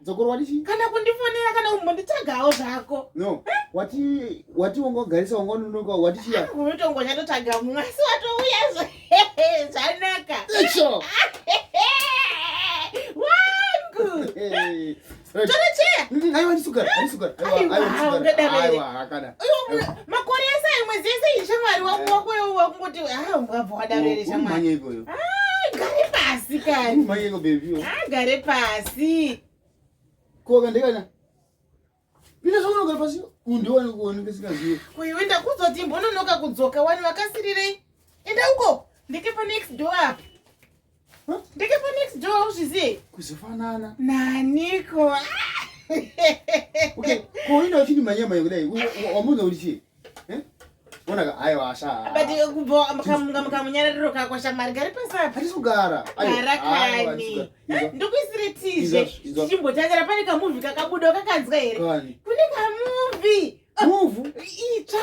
dzokorwa ndichi kana kundifonera kana kumbonditsvagawo zvako no wati wati wangogarisa wangononoka wati chiya unotongo chatotsvaga mumwe asi watouya zvanaka icho wangu torocheya aiwa ndisugara ndisugara aiwa ndisugara aiwa hakada makore ese ayo mwedzi yese iyi shamwari wako wakungoti ah, wabva wadaro here shamwari ah, gare pasi kani ah, gare pasi koka ndikana pina zvaunogara pasi undiwane kuone ndisingazive uyu ndakuzoti mbononoka kudzoka wani vakasirirei enda uko ndike panext door apa Ndikepo next door uzviziye. Kuzofanana. Naniko. Okay, ko unoda uchiti manyama yekudai. Wamuda kuti chii? Eh? Ona ka ayo asha. But eh, kubho mkamunga mkamunyarariro kako shamari gari pasa. Hatisi kugara. Gara kani. Eh, Ndokuisire tizhe. Chimbotangara pane ka movie kakabuda kakanzwa here? Kune ka movie. Movie? Itsva.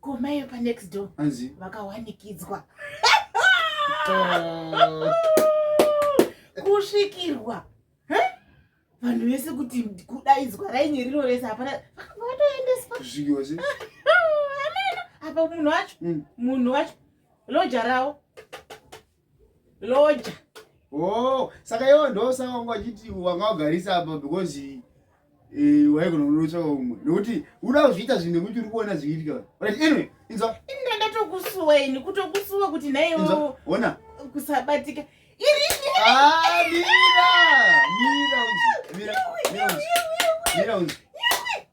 komaiyo panext door anzi vakawanikidzwa ah. kusvikirwa vanhu vese kuti kudaidzwa rainye rino rese hapana vakatoendeswa kusvikiwa se apa munhu wacho mm. munhu wacho loja rawo loja oh saka iwo ndosaka wanga wachiti wanga wagarisa apa because eh, waigona kunotsvaka umwe nokuti uda kuzviita zvinhu nekuti uri kuona zviitika right anyway inzwa inda ndatokusuweni kutokusuwa kuti naiwo ona kusabatika irini ah mira mira mira mira mira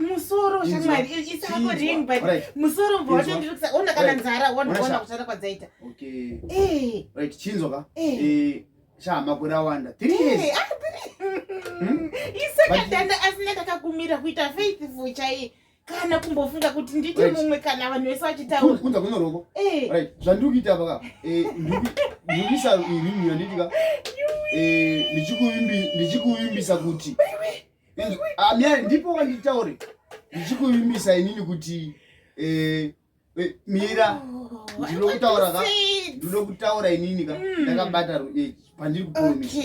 musoro shamwari isako ring but musoro mbwa wacho ndiri kusa ona kana nzara wondoona kushanda kwadzaita chinzwa ka shaa makore awanda isakadanda asina takakumira kuita faithful chaiye kana kumbofunga kuti nditi mumwe kana vanhu vese vachitauraunza kuno roko eh. right zvandiri kuita apa ka eh, ndikuisa irimu yanditi ka eh, ndichikuvimbisa kuti amyari ah, ndipo wanditaure ndichikuvimbisa inini kuti Eh, mira oh, ndinokutaura ka ndinokutaura inini ka hmm. ndakabata eh, pandiri kupromisa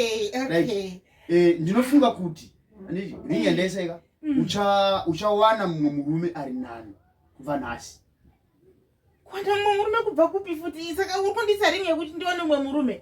eh, ndinofunga kuti anditi ringi yandaiseka hmm. uchawana mumwe murume ari nani kubva nhasi kwanda mumwe murume kubva kupi futi saka uri kundisa ringi yekuti ndiwane mumwe murume